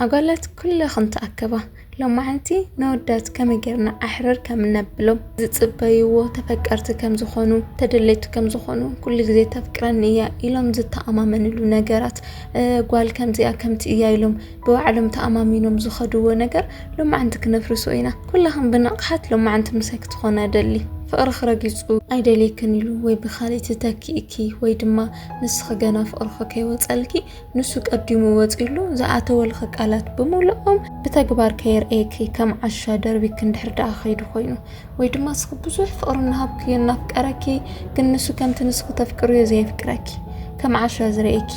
ኣጓላት ኩለኽን ተኣከባ። ሎማዕንቲ ነወዳት ከመይ ጌርና ኣሕርር ከም እነብሎም ዝጽበይዎ ተፈቀርቲ ከም ዝኾኑ፣ ተደለይቲ ከም ዝኾኑ፣ ኩሉ ግዜ ተፍቅረኒ እያ ኢሎም ዝተኣማመንሉ ነገራት፣ ጓል ከምዚኣ ከምቲ እያ ኢሎም ብባዕሎም ተኣማሚኖም ዝኸድዎ ነገር ሎማዕንቲ ክነፍርሶ ኢና። ኩለኽን ብንቕሓት ሎማዕንቲ ምሳይ ክትኾና እደሊ። ፍቕርኺ ረጊጹ ኣይደልየክን ኢሉ ወይ ብኻልእቲ ተኪእኪ ወይ ድማ ንስኺ ገና ፍቕርኺ ከይወጸልኪ ንሱ ቀዲሙ ወጺሉ ዝኣተወልኺ ቃላት ብምሉኦም ብተግባር ከየርእየኪ ከም ዓሻ ደርቢኪ እንድሕር ደኣ ከይዱ ኮይኑ ወይ ድማ ንስኺ ብዙሕ ፍቕሪ እናሃብኪ እናፍቀረኪ ግን ንሱ ከምቲ ንስኺ ተፍቅርዮ ዘየፍቅረኪ ከም ዓሻ ዝርእየኪ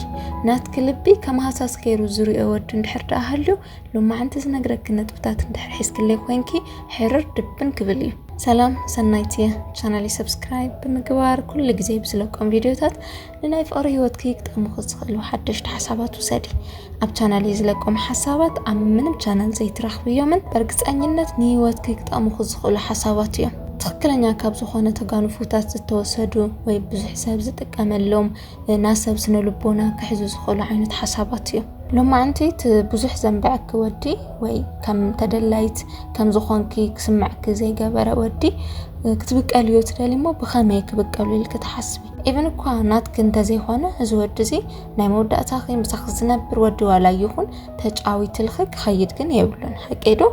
ናትኪ ልቢ ከም ሃሳስ ገይሩ ዝርኦ ወዲ እንድሕር ደኣ ሃልዩ ሎማዕንቲ ዝነግረኪ ነጥብታት እንድሕር ሒዝክለይ ኮንኪ ሕርር ድብን ክብል እዩ ሰላም ሰናይት እየ ቻናለይ ሰብስክራይብ ብምግባር ኩሉ ግዜ ብዝለቆም ቪድዮታት ንናይ ፍቕሪ ህይወትኪ ክጠምኹ ዝኽእሉ ሓደሽቲ ሓሳባት ውሰዲ። ኣብ ቻናል እየ ዝለቆም ሓሳባት ኣብ ምንም ቻናል ዘይትረኽብዮምን በርግፀኝነት ንህይወትኪ ክጠምኹ ዝኽእሉ ሓሳባት እዮም። ትኽክለኛ ካብ ዝኾነ ተጋንፉታት ዝተወሰዱ ወይ ብዙሕ ሰብ ዝጥቀመሎም ናብ ሰብ ስነ ልቦና ክሕዙ ዝኽእሉ ዓይነት ሓሳባት እዮም። ሎማዕንቲ እቲ ብዙሕ ዘንበዐኪ ወዲ ወይ ከም ተደላይት ከም ዝኾንኪ ክስምዐኪ ዘይገበረ ወዲ ክትብቀልዮ ትደሊ እሞ ብኸመይ ክብቀሉ ኢልኪ ትሓስቢ? ኢቭን እኳ ናትኪ እንተዘይኮነ እዚ ወዲ እዚ ናይ መወዳእታኺ ምሳኺ ዝነብር ወዲ ዋላ ይኹን ተጫዊትልኺ ክኸይድ ግን የብሉን ሓቀይ ዶ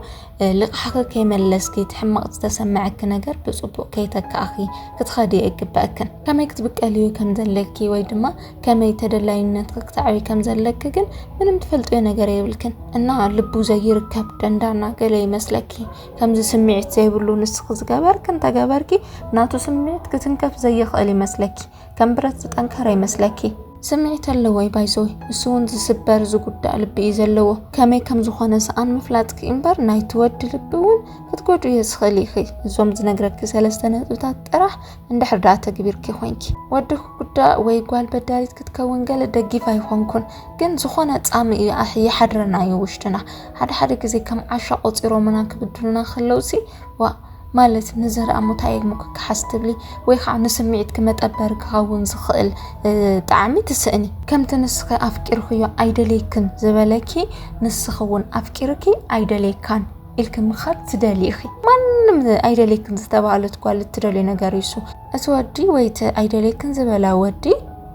ልቕሓኺ ከይመለስኪ እቲ ሕማቕ ዝተሰመዐኪ ነገር ብፅቡቅ ከይተካእኺ ክትኸዲ ኣይግበእክን ከመይ ክትብቀልዩ ከም ዘለኪ ወይ ድማ ከመይ ተደላይነትኪ ክተዕብይ ከም ዘለኪ ግን ምንም ትፈልጥዮ ነገር የብልክን እና ልቡ ዘይርከብ ደንዳና ገለ ይመስለኪ ከምዚ ስምዒት ዘይብሉ ንስኺ ዝገበርኪ እንተገበርኪ ናቱ ስምዒት ክትንከፍ ዘይኽእል ይመስለኪ ከም ብረት ዝጠንከረ ይመስለኪ ስምዒት ኣለዎይ ባይዘወይ ንሱ እውን ዝስበር ዝጉዳእ ልቢ እዩ ዘለዎ ከመይ ከም ዝኾነ ሰኣን ምፍላጥኪ እምበር ናይ ትወዲ ልቢ እውን ክትጎዱ እየ ዝኽእል ኢኺ እዞም ዝነግረኪ ሰለስተ ነጥብታት ጥራሕ እንድሕር ዳኣ ተግቢርኪ ኮንኪ ወዲ ክጉዳእ ወይ ጓል በዳሪት ክትከውን ገለ ደጊፍ ኣይኮንኩን ግን ዝኾነ ፃሚ እዩ ይሓድረና እዩ ውሽጥና ሓደ ሓደ ግዜ ከም ዓሻ ቆጺሮምና ክብድሉና ከለውሲ ዋእ ማለት ንዝርኣ ሙታየግሙ ክከሓስ ትብሊ ወይ ከዓ ንስምዒትኪ መጠበሪ ክኸውን ዝኽእል ጣዕሚ ትስእኒ ከምቲ ንስኺ ኣፍቂርክዮ ኣይደልየክን ዝበለኪ ንስኺ እውን ኣፍቂርኪ ኣይደልየካን ኢልኪ ምኻድ ትደልይ ኢኺ ማንም ኣይደልየክን ዝተባህለት ጓል እትደልዮ ነገር እዩ እሱ እቲ ወዲ ወይ እቲ ኣይደለይክን ዝበላ ወዲ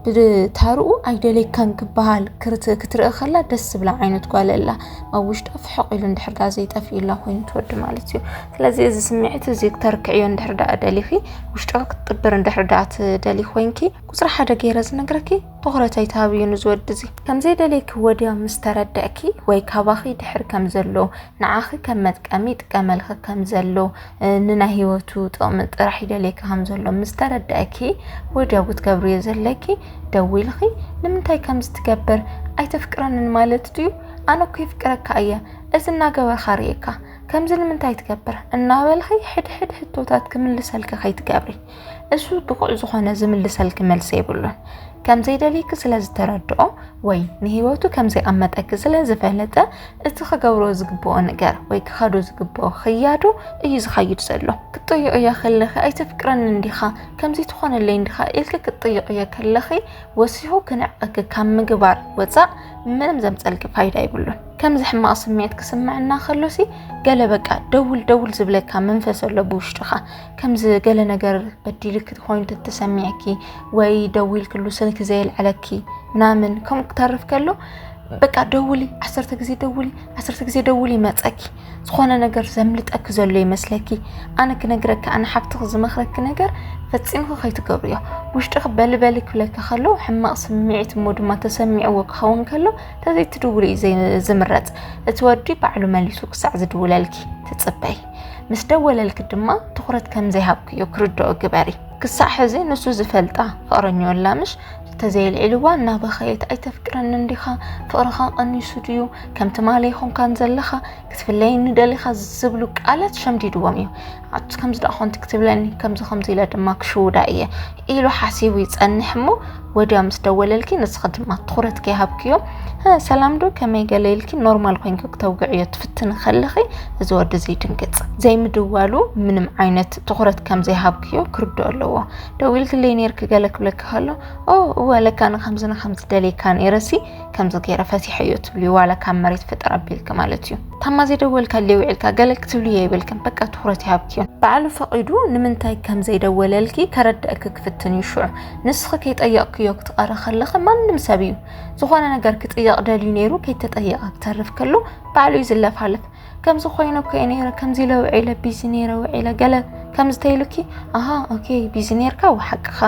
ብታርኡ ኣይደለይካን ክበሃል ክትርኢ ከላ ደስ ዝብላ ዓይነት ጓል ኣላ ኣብ ውሽጣ ፍሕቕ ኢሉ እንድሕር ዳ ዘይጠፍኢላ ኮይኑ ትወዲ ማለት እዩ ስለዚ እዚ ስምዒት እዚ ክተርክዕዮ እንድሕር ዳ ደሊኺ ውሽጦ ክትጥብር እንድሕር ዳ ትደሊ ኮይንኪ ቁፅሪ ሓደ ገይረ ዝነግረኪ ትኩረት ኣይትሃብዩ ንዝወዲ እዚ ከምዘይደለይኪ ወዲያ ምስ ተረድዕኪ ወይ ካባኺ ድሕር ከም ዘሎ ንዓኺ ከም መጥቀሚ ይጥቀመልኺ ከም ዘሎ ንናይ ህይወቱ ጥቕሚ ጥራሕ ይደልየኪ ከም ዘሎ ምስ ተረዳእኪ ወዲያው ክትገብርዮ ዘለኪ ደዊልኺ ንምንታይ ከምዚ ትገብር ኣይተፍቅረንን ማለት ድዩ ኣነ እኮ ይፍቅረካ እየ እዚ እናገበርካ ርእየካ ከምዚ ንምንታይ ትገብር እናበልኺ ሕድሕድ ሕቶታት ክምልሰልኪ ከይትገብሪ እሱ ብቑዕ ዝኾነ ዝምልሰልኪ መልሲ የብሉን። ከም ዘይደልይኪ ስለ ዝተረድኦ ወይ ንህይወቱ ከም ዘይቐመጠኪ ስለ ዝፈለጠ እቲ ክገብሮ ዝግብኦ ነገር ወይ ክኸዶ ዝግብኦ ክያዶ እዩ ዝኸይድ ዘሎ። ክትጥይቕ እያ ከለኺ ኣይተፍቅረኒ እንዲኻ ከምዚ ትኾነለይ እንዲኻ ኢልኪ ክትጥይቕ እየ ከለኺ ወሲኹ ክንዕቐኪ ካብ ምግባር ወፃእ ምንም ዘምፀልኪ ፋይዳ ይብሉን። ከምዚ ሕማቕ ስምዒት ክስምዐና ከሎሲ ገለ በቃ ደውል ደውል ዝብለካ መንፈስ ኣሎ ብውሽጥኻ። ከምዚ ገለ ነገር በዲልክ ኮይኑ ተተሰሚዕኪ ወይ ደዊልክሉ ስልክ ዘየልዕለኪ ምናምን ከምኡ ክተርፍ ከሎ በቃ ደውሊ፣ ዓሰርተ ግዜ ደውሊ፣ ዓሰርተ ግዜ ደውሊ ይመፀኪ። ዝኾነ ነገር ዘምልጠኪ ዘሎ ይመስለኪ። ኣነ ክነግረኪ ኣነ ሓፍትኺ ዝመኽረኪ ነገር ፈፂምኺ ከይትገብርዮ ውሽጥኺ በልበሊ ክብለኪ ከሎ ሕማቕ ስምዒት እሞ ድማ ተሰሚዕዎ ክኸውን ከሎ ተዘይትድውሉ እዩ ዝምረፅ። እቲ ወዲ ባዕሉ መሊሱ ክሳዕ ዝድውለልኪ ትፅበይ። ምስ ደወለልኪ ድማ ትኹረት ከም ዘይሃብክዮ ክርድኦ ግበሪ። ክሳዕ ሕዚ ንሱ ዝፈልጣ ፍቕረኞ ኣላ ምሽ? ተዘየልዒልዋ እናበኸየት ኣይተፍቅረንን ዲኻ? ፍቕርኻ ቀኒሱ ድዩ? ከም ትማሊ ኣይኮንካን ዘለኻ? ክትፍለየኒ ደሊኻ? ዝብሉ ቃላት ሸምዲድዎም እዩ። ኣቲ ከምዚ ደኣ ኮንቲ ክትብለኒ ከምዚ ከምዚ ኢለ ድማ ክሽውዳ እየ ኢሉ ሓሲቡ ይጸንሕ እሞ ወዲያ ምስ ደወለልኪ ንስኺ ድማ ትኹረት ከይሃብክዮ ሰላም ዶ ከመይ ገለ ኢልኪ ኖርማል ኮይንኪ ክተውግዕዮ ትፍትኒ ከለኺ እዚ ወዲ እዚ ይድንግጽ ዘይምድዋሉ ምንም ዓይነት ትኹረት ከም ዘይሃብክዮ ክርድኦ ኣለዎ ደው ኢልክለይ ነርኪ ገለ ክብለኪ ከሎ ኦ እወ ለካ ንከምዚ ንከምዚ ደልየካ ነይረሲ ከምዚ ገይረ ፈቲሐዮ ትብልዩ ዋላ ካብ መሬት ፍጥር ኣቢልኪ ማለት እዩ ታማ ዘይደወልካለይ ውዒልካ ገለ ክትብልዮ የብልክን በቃ ትኩረት ይሃብኪዮ ባዕሉ ፈቂዱ ንምንታይ ከም ዘይደወለልኪ ከረድእኪ ክፍትን እዩ ሽዑ ንስኺ ከይጠየቕክዮ ክትቐሪ ከለኺ ማንም ሰብ እዩ ዝኾነ ነገር ክጥየቕ ደልዩ ነይሩ ከይተጠየቐ ክተርፍ ከሎ ባዕሉ እዩ ዝለፋለፍ ከምዚ ኮይኑ እኮ እየ ነይረ ከምዚ ኢለ ውዒለ ቢዚ ነይረ ውዒለ ገለ ከምዚ ተይሉኪ ኣሃ ኦኬ ቢዚ ነይርካ ወሓቅኻ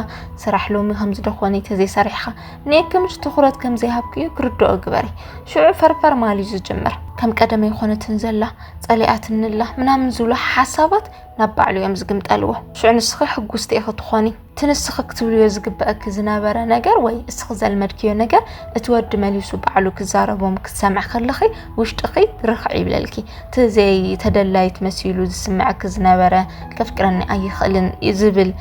ስራሕ ሎሚ ከምዚ ደኾነ ተዘይሰሪሕኻ ንየክምሽ ትኹረት ከምዘይሃብኩ እዩ ክርድኦ ግበሪ ሽዑ ፈርፈር ማል እዩ ዝጅምር ከም ቀደመ ይኾነትን ዘላ ጸሊኣትንላ ምናምን ዝብሉ ሓሳባት ናብ ባዕሉ እዮም ዝግምጠልዎ ሽዑ ንስኺ ሕጉስቲ ኢኺ ትኾኒ እቲ ንስኺ ክትብልዮ ዝግበእኪ ዝነበረ ነገር ወይ እስኺ ዘልመድክዮ ነገር እቲ ወዲ መሊሱ ባዕሉ ክዛረቦም ክትሰምዕ ከለኺ ውሽጥኺ ርኽዕ ይብለልኪ እቲ ዘይተደላይት መሲሉ ዝስምዐኪ ዝነበረ ከፍቅረኒ ኣይኽእልን ዝብል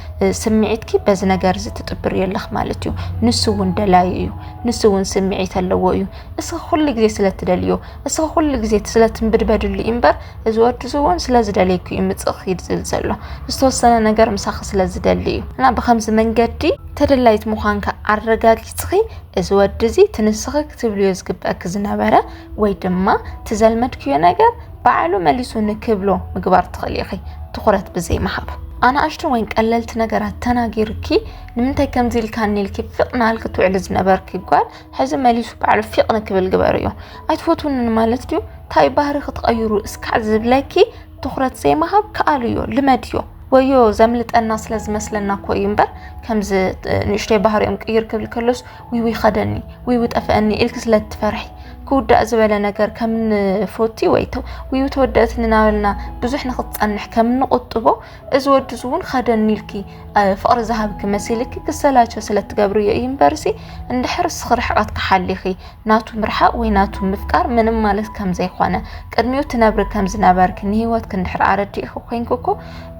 ስምዒትኪ በዚ ነገር እዚ ትጥብርዮ ኣለኽ ማለት እዩ ንሱ እውን ደላዩ እዩ ንሱ እውን ስምዒት ኣለዎ እዩ እስኺ ኩሉ ግዜ ስለትደልዮ እስኺ ኩሉ ግዜ ስለ ትምብድበድሉ እዩ እምበር እዚ ወዲ እዚ እውን ስለ ዝደልየኪ እዩ ምፅእ ክይድ ዝብል ዘሎ ዝተወሰነ ነገር ምሳኺ ስለ ዝደሊ እዩ እና ብከምዚ መንገዲ ተደላይት ምዃንካ ኣረጋጊፅኺ እዚ ወዲ እዚ ትንስኺ ክትብልዮ ዝግበእኪ ዝነበረ ወይ ድማ ትዘልመድክዮ ነገር ባዕሉ መሊሱ ንክብሎ ምግባር ትኽእሊ ኢኺ ትኹረት ብዘይምሃብ ኣናእሽቱ ወይን ቀለልቲ ነገራት ተናጊርኪ ንምንታይ ከምዚ ኢልካኒ ኢልኪ ፍቕ ናልኪ ትውዕሊ ዝነበርኪ ጓል ሕዚ መሊሱ ባዕሉ ፊቕ ንክብል ግበርዮ ኣይትፈትውንን ማለት ድዩ ታይ ባህሪ ክትቐይሩ እስካዕ ዝብለኪ ትኹረት ዘይምሃብ ክኣልዮ ልመድዮ ወዮ ዘምልጠና ስለ ዝመስለና እኮ እዩ እምበር ከምዚ ንእሽተይ ባህሪኦም ቅይር ክብል ከሎስ ዊዊ ከደኒ ዊዊ ጠፍአኒ ኢልክ ስለ ትፈርሒ ክውዳእ ዝበለ ነገር ከም ንፎቲ ወይ ዊዊ ተወደእትኒ ናበልና ብዙሕ ንክትፀንሕ ከም ንቁጥቦ እዚ ወዲ እዚ እውን ኸደኒ ኢልኪ ፍቕሪ ዝሃብኪ መሲልኪ ክሰላቸው ስለ ትገብርዮ እዩ እምበርሲ እንድሕር እስኺ ርሕቐት ክሓሊኺ ናቱ ምርሓቕ ወይ ናቱ ምፍቃር ምንም ማለት ከም ዘይኮነ ቅድሚኡ ትነብሪ ከም ዝነበርኪ ንህይወትኪ እንድሕር ኣረዲእኺ ኮንኪ እኮ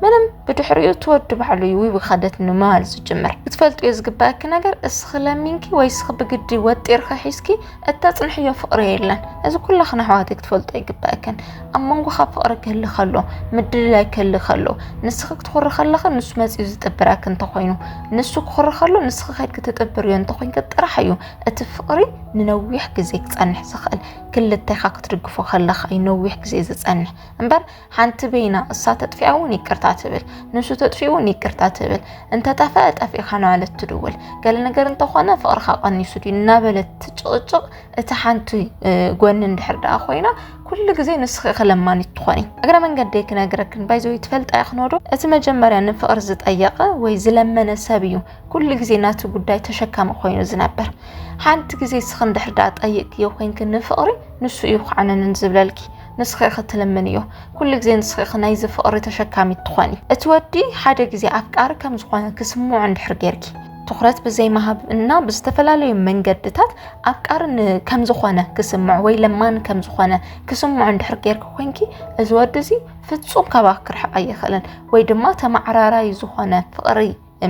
ምንም ብድሕሪኡ ትወዲ ባዕሉ እዩ ውይ ኸደትኒ ምባል ዝጅምር ክትፈልጥዮ ዝግባእኪ ነገር እስኺ ለሚንኪ ወይ እስኺ ብግዲ ወጢርኺ ሒዝኪ እተጽንሕዮ ፍቕሪ የለን። እዚ ኩላኽን ኣሕዋተይ ክትፈልጦ ይግበኣክን። ኣብ መንጎኻ ፍቕሪ ክህሊ ከሎ፣ ምድልላይ ክህሊ ከሎ፣ ንስኺ ክትኹሪ ከለኺ ንሱ መጺኡ ዝጥብረኪ እንተኾይኑ፣ ንሱ ክኹሪ ከሎ ንስኺ ከድኪ ትጥብርዮ እንተኾይንኪ ጥራሕ እዩ እቲ ፍቕሪ ንነዊሕ ግዜ ክጸንሕ ዝኽእል። ክልተኻ ክትድግፎ ከለኻ እዩ ነዊሕ ግዜ ዝጸንሕ እምበር ሓንቲ በይና እሳ ተጥፊኣ እውን ይቅርታ ትብል፣ ንሱ ተጥፊኡ እውን ይቅርታ ትብል፣ እንተጠፈአ ጠፊእኻ እናበለት ትድውል፣ ገለ ነገር እንተኾነ ፍቕርኻ ቀኒሱ ድዩ እናበለት ትጭቕጭቕ። እቲ ሓንቲ ጎኒ እንድሕር ደኣ ኮይና ኩሉ ግዜ ንስኺ ክለማኒት ትኾኒ እግረ መንገደይ ክነግረክን ባይዘወይ ትፈልጣ ይኽኖዶ እቲ መጀመርያ ንፍቕሪ ዝጠየቐ ወይ ዝለመነ ሰብ እዩ ኩሉ ግዜ ናቲ ጉዳይ ተሸካሚ ኮይኑ ዝነበር ሓንቲ ግዜ ስኽ እንድሕር ደኣ ጠይቅክዮ ኮይንክ ንፍቕሪ ንሱ እዩ ክዓነንን ዝብለልኪ ንስኺ ኢኺ ትልምንዮ ኩሉ ግዜ ንስኺ ኢኺ ናይዚ ፍቕሪ ተሸካሚት ትኾኒ እቲ ወዲ ሓደ ግዜ ኣፍቃሪ ከም ዝኾነ ክስምዖ እንድሕር ጌርኪ ትኹረት ብዘይምሃብ እና ብዝተፈላለዩ መንገድታት ኣፍቃሪ ከም ዝኾነ ክስምዖ ወይ ለማኒ ከም ዝኾነ ክስምዖ እንድሕር ጌርኪ ኮንኪ እዚ ወዲ እዚ ፍጹም ካባኺ ክርሕቕ ኣይኽእልን ወይ ድማ ተማዕራራይ ዝኾነ ፍቕሪ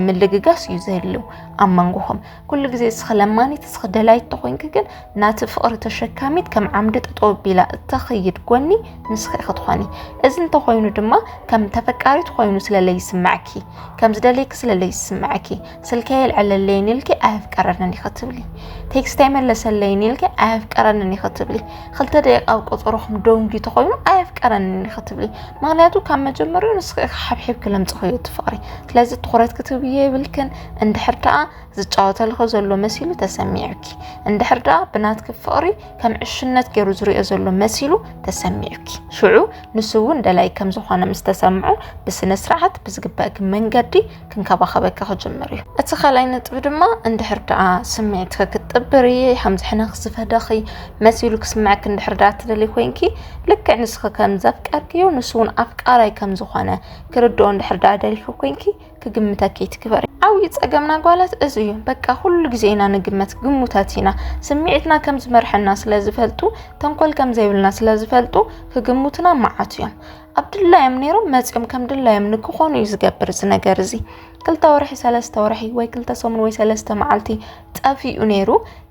ምልግጋስ እዩ ዘድልው ኣብ መንጎኹም ኩሉ ግዜ እስኺ ለማኒት እስኺ ደላይት ተኾይንኪ ግን ናቲ ፍቕሪ ተሸካሚት ከም ዓምዲ ጠጠው ቢላ እተኸይድ ጎኒ ንስኺ ኢኺ ትኾኒ እዚ እንተኾይኑ ድማ ከም ተፈቃሪት ኮይኑ ስለለይስምዐኪ ከም ዝደለይኪ ስለለይስምዐኪ ስልከይ የልዕለለይን ኢልኪ ኣየፍቀረንን ኢኺ ትብሊ ቴክስት ኣይመለሰለይን ኢልኪ ኣየፍቀረንን ኢኺ ትብሊ ክልተ ደቂቃ ኣብ ቆፀሮኹም ደንጉዩ ተኾይኑ ኣየፍቀረንን እዩ ክትብሊ ምክንያቱ ካብ መጀመሪኡ ንስኺ ሓብሒብኪ ለምፅኸዮ እቲ ፍቅሪ ስለዚ ትኹረት ክትብዮ የብልክን እንድሕር ደኣ ዝጫወተልኸ ዘሎ መሲሉ ተሰሚዑኪ እንድሕር ደኣ ብናትኪ ፍቅሪ ከም ዕሽነት ገይሩ ዝሪኦ ዘሎ መሲሉ ተሰሚዑኪ ሽዑ ንሱ እውን ደላይ ከም ዝኾነ ምስ ተሰምዖ ብስነ ስርዓት ብዝግበእኪ መንገዲ ክንከባኸበኪ ክጅምር እዩ። እቲ ካልኣይ ነጥቢ ድማ እንድሕር ደኣ ስምዒትኪ ክትጥብሪ ከም ዝሕነኺ ዝፈደኺ መሲሉ ክስምዐኪ እንድሕር ደኣ ትደልይ ኮይንኪ ልክዕ ንስኺ ከም ዘፍቀርክዮ ንሱ እውን ኣፍቃራይ ከም ዝኾነ ክርድኦ እንድሕር ደኣ ደሊኺ ኮይንኪ ክግምተኪ ይትግበሪ። ዓብዪ ጸገምና ጓላት እዚ እዩ። በቃ ኩሉ ግዜ ኢና ንግመት ግሙታት ኢና። ስምዒትና ከም ዝመርሐና ስለ ዝፈልጡ ተንኮል ከም ዘይብልና ስለ ዝፈልጡ ክግሙትና መዓት እዮም። ኣብ ድላዮም ነይሮም መፂኦም ከም ድላዮም ንክኾኑ እዩ ዝገብር እዚ ነገር እዚ ክልተ ወርሒ ሰለስተ ወርሒ ወይ ክልተ ሰሙን ወይ ሰለስተ መዓልቲ ጠፊኡ ነይሩ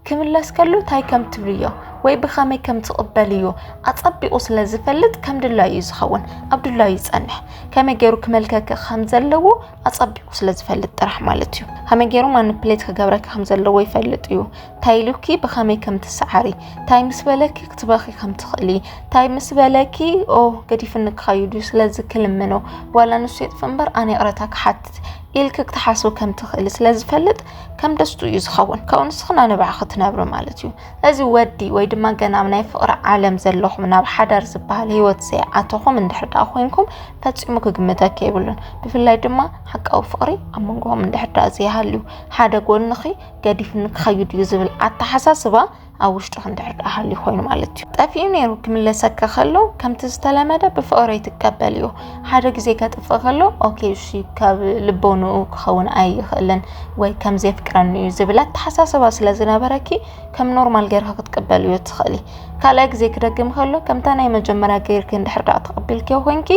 ክምለስ ከሉ እንታይ ከም ትብልዮ ወይ ብኸመይ ከም ትቕበልዮ ኣጸቢቑ ስለ ዝፈልጥ ከም ድላዩ እዩ ዝኸውን ኣብ ድላዩ ይጸንሕ ከመይ ገይሩ ክመልከከ ከም ዘለዎ ኣጸቢቑ ስለ ዝፈልጥ ጥራሕ ማለት እዩ ከመይ ገይሩ ማኒፕሌት ክገብረካ ከም ዘለዎ ይፈልጥ እዩ ታይ ኢሉኪ ብኸመይ ከም ትሰዓሪ ታይ ምስ በለኪ ክትበኺ ከም ትኽእሊ ታይ ምስ በለኪ ኦ ገዲፍኒ ክኸይዱ ስለዚ ክልምኖ ዋላ ንሱ የጥፍ እምበር ኣነ ይቕረታ ክሓትት ኢልኪ ክትሓስቡ ከም ትኽእሊ ስለ ዝፈልጥ ከም ደስቱ እዩ ዝኸውን ካብኡ ንስኽና ንባዕኺ ክትነብሪ ማለት እዩ እዚ ወዲ ወይ ድማ ገና ኣብ ናይ ፍቕሪ ዓለም ዘለኹም ናብ ሓዳር ዝበሃል ህይወት ዘይኣተኹም እንድሕር ደኣ ኮንኩም ፈፂሙ ክግምተኪ የብሉን ብፍላይ ድማ ሓቃዊ ፍቕሪ ኣብ መንጎኹም እንድሕር ደኣ ዘይሃልዩ ሓደ ጎንኺ ገዲፍኒ ክኸይድ እዩ ዝብል ኣተሓሳስባ ኣብ ውሽጡ ክንድሕር ድኣ ሃልዩ ኮይኑ ማለት እዩ ጠፊኡ ነይሩ ክምለሰካ ከሎ ከምቲ ዝተለመደ ብፍቕሪ ትቀበል እዩ ሓደ ግዜ ከጥፍእ ከሎ ኦኬ እሺ ካብ ልቦንኡ ክኸውን ኣይኽእልን ወይ ከም ዘፍቅረኒ እዩ ዝብል ኣተሓሳስባ ስለ ዝነበረኪ ከም ኖርማል ገርካ ክትቀበል እዩ ትኽእሊ ካልኣይ ግዜ ክደግም ከሎ ከምታ ናይ መጀመርያ ገይርኪ እንድሕር ድኣ ተቐቢልክዮ ኮንኪ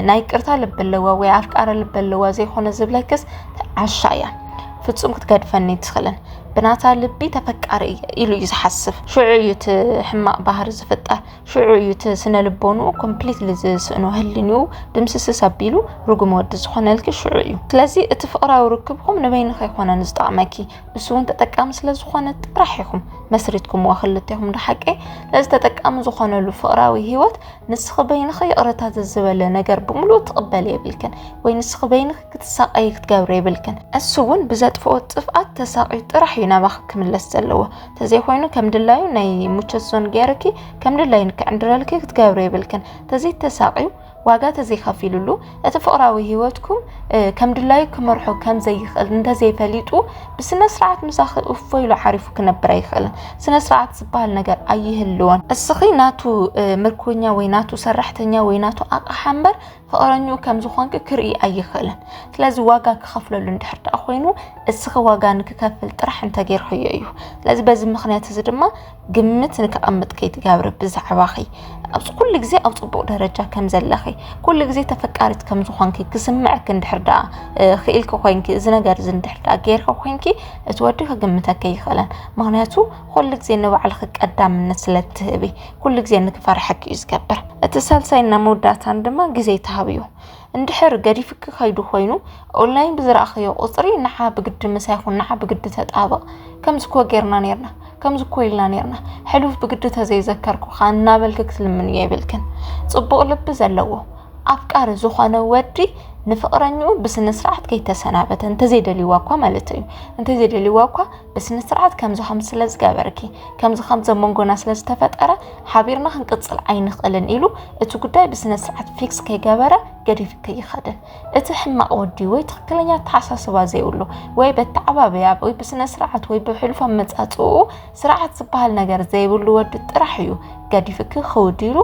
ናይ ቅርታ ልቢ ኣለዋ ወይ ኣፍቃሪ ልቢ ኣለዋ ዘይኮነ ዝብለክስ ዓሻ እያ ፍጹም ክትገድፈኒ ትኽእልን ብናታ ልቢ ተፈቃሪ እየ ኢሉ እዩ ዝሓስብ ሽዑ እዩ እቲ ሕማቕ ባህሪ ዝፍጠር ሽዑ እዩ እቲ ስነ ልቦንኡ ኮምፕሊትሊ ዝስእኖ ህልንኡ ድምስስስ ኣቢሉ ርጉም ወዲ ዝኾነልኪ ሽዑ እዩ ስለዚ እቲ ፍቕራዊ ርክብኩም ንበይንኸ ይኮነን ዝጠቕመኪ ንሱ እውን ተጠቃሚ ስለ ዝኾነ ጥራሕ ኢኹም መስሪትኩምዋ ክልቴኹም ዶ ሓቂ ነዚ ተጠቃሚ ዝኾነሉ ፍቕራዊ ሂወት ንስኺ በይንኺ ይቕረታ ዘዝበለ ነገር ብምሉእ ትቕበል የብልክን ወይ ንስኺ በይንኺ ክትሳቐይ ክትገብሪ የብልክን እሱ እውን ብዘጥፍኦ ጥፍኣት ተሳቒዩ ጥራሕ እዩ ናባኺ ክምለስ ዘለዎ ተዘይኮይኑ ከም ድላዩ ናይ ሙቸት ዞን ገይርኪ ከም ድላዩ ንክዕንድረልኪ ክትገብሪ የብልክን ተዘይተሳቒዩ ዋጋ ተዘይከፊሉሉ እቲ ፍቕራዊ ህይወትኩም ከም ድላዩ ክመርሖ ከም ዘይኽእል እንተዘይፈሊጡ ብስነ ስርዓት ምሳኺ እፎ ኢሉ ዓሪፉ ክነብር ኣይኽእልን። ስነ ስርዓት ዝበሃል ነገር ኣይህልዎን። እስኺ ናቱ ምርኮኛ ወይ ናቱ ሰራሕተኛ ወይ ናቱ ኣቕሓ እምበር ፍቕረኝኡ ከም ዝኾንኪ ክርኢ ኣይኽእልን። ስለዚ ዋጋ ክኸፍለሉ እንድሕር ደኣ ኮይኑ እስኺ ዋጋ ንክከፍል ጥራሕ እንተጌርክዮ እዩ። ስለዚ በዚ ምኽንያት እዚ ድማ ግምት ንከቐምጥ ከይትገብሪ ብዛዕባኺ ኣብዚ ኩሉ ግዜ ኣብ ፅቡቕ ደረጃ ከም ዘለኺ ኩሉ ግዜ ተፈቃሪት ከም ዝኾንኪ ክስምዐኪ እንድሕር ደኣ ክኢልኪ ኮይንኪ እዚ ነገር እዚ እንድሕር ደኣ ጌርኪ ኮይንኪ እቲ ወዲ ክግምተኪ ኣይኽእለን ምክንያቱ ኩሉ ግዜ ንባዕልኺ ቀዳምነት ስለ እትህቢ ኩሉ ግዜ ንክፈርሐኪ እዩ ዝገብር እቲ ሳልሳይና መወዳእታን ድማ ግዜ ተሃብዩ እንድሕር ገዲፍኪ ከይዱ ኮይኑ ኦንላይን ብዝረኣኸዮ ቁፅሪ ንዓ ብግዲ ምሳይ ኹን ንዓ ብግዲ ተጣበቕ ከምዚ እኮ ጌርና ነርና ከምዚ እኮ ኢልና ነርና ሕሉፍ ብግዲ ተዘይዘከርኩኻ እናበልኪ ክትልምንዮ የብልክን ፅቡቕ ልቢ ዘለዎ ኣፍቃሪ ዝኾነ ወዲ ንፍቕረኝኡ ብስነ ስርዓት ከይተሰናበተ እንተዘይደልይዋ እኳ ማለት እዩ እንተዘይደልይዋ እኳ ብስነስርዓት ከምዚ ከምዚ ስለ ዝገበርኪ ከምዚ ከምዚ ኣብ መንጎና ስለ ዝተፈጠረ ሓቢርና ክንቅፅል ኣይንኽእልን ኢሉ እቲ ጉዳይ ብስነስርዓት ፊክስ ከይገበረ ገዲፍኪ ይኸድን እቲ ሕማቕ ወዲ ወይ ትኽክለኛ ኣተሓሳስባ ዘይብሉ ወይ በተዓባበያ ወይ ብስነ ስርዓት ወይ ብሕሉፍ ኣመፃፅኡ ስርዓት ዝበሃል ነገር ዘይብሉ ወዲ ጥራሕ እዩ ገዲፍኪ ክውዲሉ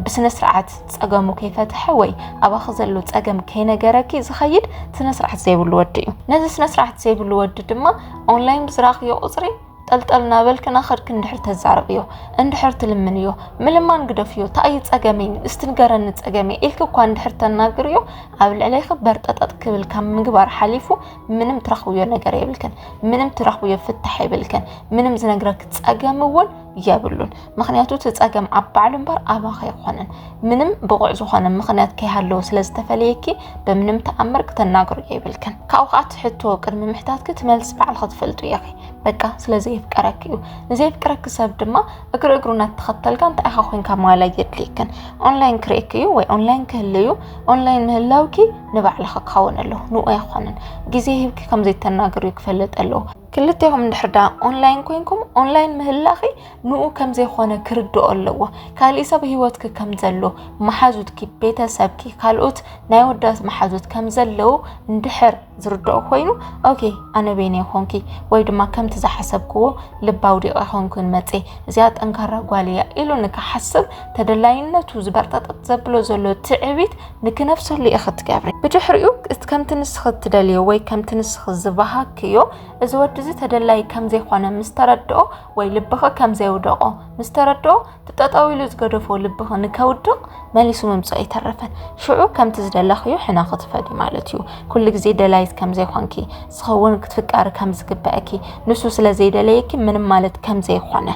ብስነ ስርዓት ጸገሙ ከይፈትሐ ወይ ኣባኺ ዘሎ ጸገም ከይነገረኪ ዝኸይድ ስነስርዓት ዘይብሉ ወዲ እዩ ነዚ ስነስርዓት ዘይብሉ ወዲ ድማ ኦንላይን ብዝራኽዮ ቁጽሪ ጠልጠል ናበልክ ናኸድክ እንድሕር ተዛረብዮ እንድሕር ትልምንዮ ምልማን ግደፍዮ ታኣዩ ጸገመይ እስቲ ንገረኒ ጸገመይ ኢልክ እኳ እንድሕር ተናግርዮ ኣብ ልዕለይክ በርጠጠጥ ክብል ካብ ምግባር ሓሊፉ ምንም ትረኽብዮ ነገር የብልክን ምንም ትረኽብዮ ፍታሕ የብልክን ምንም ዝነግረክ ጸገም እውን የብሉን ምክንያቱ እቲ ፀገም ኣብ ባዕሉ እምበር ኣባኸ ኣይኮነን ምንም ብቑዕ ዝኾነ ምክንያት ከይሃለዎ ስለ ዝተፈለየኪ ብምንም ተኣምር ክተናግሩ የብልክን ካብኡ ከዓ ትሕቶ ቅድሚ ምሕታትኪ ትመልስ ባዕል ክትፈልጡ ኢኺ በቃ ስለ ዘየፍቀረኪ እዩ ንዘየፍቀረኪ ሰብ ድማ እግሪ እግሩ እናተኸተልካ እንታይ ኢኻ ኮንካ ማላ የድልየክን ኦንላይን ክርእክ እዩ ወይ ኦንላይን ክህል እዩ ኦንላይን ምህላውኪ ንባዕልኺ ክኸውን ኣለዎ ንኡ ኣይኮነን ግዜ ሂብኪ ከምዘይተናግር እዩ ክፈልጥ ኣለዎ ክልቴኹም እንድሕር ዳ ኦንላይን ኮይንኩም ኦንላይን ምህላኺ ንኡ ከም ዘይኮነ ክርድኦ ኣለዎ ካሊእ ሰብ ሂወትኪ ከም ዘሎ መሓዙትኪ ቤተሰብኪ ካልኦት ናይ ወዳት መሓዙት ከም ዘለዉ እንድሕር ዝርድኦ ኮይኑ ኦኬ ኣነ በይነ ይኾንኪ ወይ ድማ ከምቲ ዝሓሰብክዎ ልባ ውዲቐ ኮንኩን መፀ እዚኣ ጠንካራ ጓል እያ ኢሉ ንክሓስብ ተደላይነቱ ዝበርጠጠጥ ዘብሎ ዘሎ ትዕቢት ንክነፍሰሉ ኢኺ ትገብሪ ብድሕሪኡ ከምቲ ንስኺ እትደልዮ ወይ ከምቲ ንስኺ ዝበሃክዮ እዚ ወዲ እዚ ተደላይ ከም ዘይኮነ ምስ ተረድኦ ወይ ልብኺ ከም ዘየውደቖ ምስ ተረድኦ ትጠጠው ኢሉ ዝገደፎ ልብኺ ንከውድቕ መሊሱ ምምፅኦ ኣይተረፈን ሽዑ ከምቲ ዝደለኽዮ ሕነ ክትፈዲ ማለት እዩ ኩሉ ግዜ ደላይት ከም ዘይኮንኪ ንስኺ እውን ክትፍቀሪ ከም ዝግበአኪ ንሱ ስለ ዘይደለየኪ ምንም ማለት ከም ዘይኮነ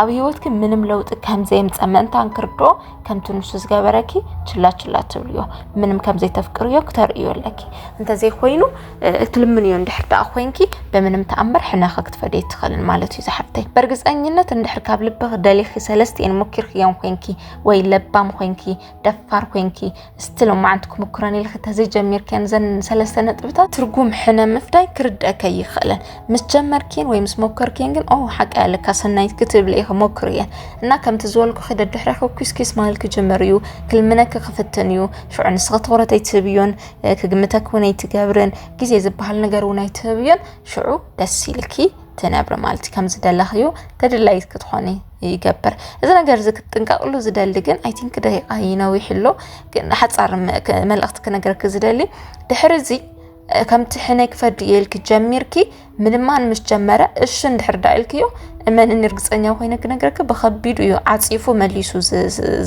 ኣብ ህይወትኪ ምንም ለውጢ ከም ዘየምፀ ምእንታን ክርድኦ ከምቲ ንሱ ዝገበረኪ ችላ ችላ ትብልዮ ምንም ከም ዘይተፍቅርዮ ክተርእዮ ኣለኪ እንተዘይኮይኑ እትልምንዮ እንድሕር ደኣ ኮንኪ ብምንም ተኣምር ሕነኸ ክትፈደ ይትኽእልን ማለት እዩ ዝሓፍተይ በእርግፀኝነት እንድሕር ካብ ልብኽ ደሊኺ ሰለስቲኤን ሞኪርክዮም ኮንኪ ወይ ለባም ኮንኪ ደፋር ኮንኪ እስቲ ሎማዓንቲ ክምክረን ኢልክ ተዘይጀሚርክን ዘን ሰለስተ ነጥብታት ትርጉም ሕነ ምፍዳይ ክርድአከ ይኽእለን ምስ ጀመርክን ወይ ምስ ሞከርክን ግን ኦ ሓቂ ኣለካ ሰናይት ክትብል ኢኸ ሞክር እየን እና ከምቲ ዝበልኩ ክደድሕረ ክኩስኪስ ማል ክጅምር እዩ ክልምነክ ክፍትን እዩ ሽዑ ንስኸ ትኹረት ኣይትህብዮን ክግምተክ እውን ኣይትገብርን ግዜ ዝበሃል ነገር እውን ኣይትህብዮን ሽዑ ደስ ኢልኪ ትነብሪ ማለት እዩ ከም ዝደለኽዩ ተደላይት ክትኾኒ ይገብር እዚ ነገር እዚ ክትጥንቀቕሉ ዝደሊ ግን ኣይ ቲንክ ደቂቃ ይነዊሕ ኣሎ ግን ሓፃር መልእኽቲ ክነገርኪ ዝደሊ ድሕሪ እዚ ከምቲ ሕነይ ክፈዲ የልኪ ጀሚርኪ ምልማን ምስ ጀመረ እሺ እንድሕር ዳ ኢልክዮ እመንኒ እርግፀኛ ኮይነ ክነግረኪ ብከቢዱ እዩ ዓፂፉ መሊሱ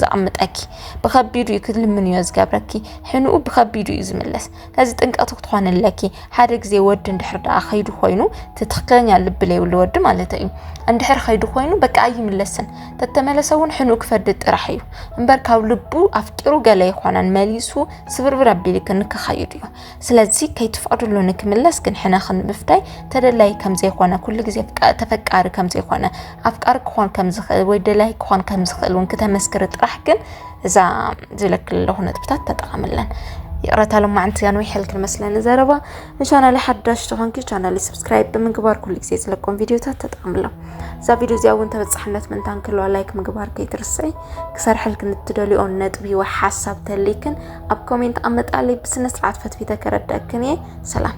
ዘቕምጠኪ ብከቢዱ እዩ ክልምን እዮ ዝገብረኪ ሕንኡ ብከቢዱ እዩ ዝምለስ እዚ ጥንቀት ክትኾን ኣለኪ ሓደ ግዜ ወዲ እንድሕር ደኣ ከይዱ ኮይኑ ትክክለኛ ልቢ ለይብሉ ወዲ ማለት እዩ እንድሕር ከይዱ ኮይኑ በቃ ኣይምለስን ተተመለሰ እውን ሕኑ ክፈዲ ጥራሕ እዩ እምበር ካብ ልቡ ኣፍቂሩ ገለ ይኾነን መሊሱ ስብርብር ኣቢልክ ንክኸይዱ እዩ ስለዚ ከይትፈቅድሉ ንክምለስ ግን ሕነ ክንምፍዳይ ተደላይ ከም ዘይኮነ ኩሉ ግዜ ተፈቃሪ ከም ዘይኮነ ኣፍቃሪ ክኾን ከም ዝኽእል ወይ ደላይ ክኾን ከም ዝኽእል እውን ክተመስክሪ ጥራሕ ግን እዛ ዝለክል ኣለኹ ነጥብታት ተጠቐምለን ይቕረታ ልማዕንቲ ኣንዊሐል ክንመስለን ዘረባ ንቻናል ሓዳሽ ተኾንኪ ቻናል ስብስክራይብ ብምግባር ኩሉ ግዜ ዝለቆም ቪድዮታት ተጠቐምሎም እዛ ቪድዮ እዚኣ እውን ተበፃሕነት ምንታን ክህልዋ ላይክ ምግባር ከይትርስዒ ክሰርሐል ክንትደልኦ ነጥቢ ወይ ሓሳብ ተልይክን ኣብ ኮሜንት ኣመጣለይ ብስነ ስርዓት ፈትፊተ ከረዳእክን እየ ሰላም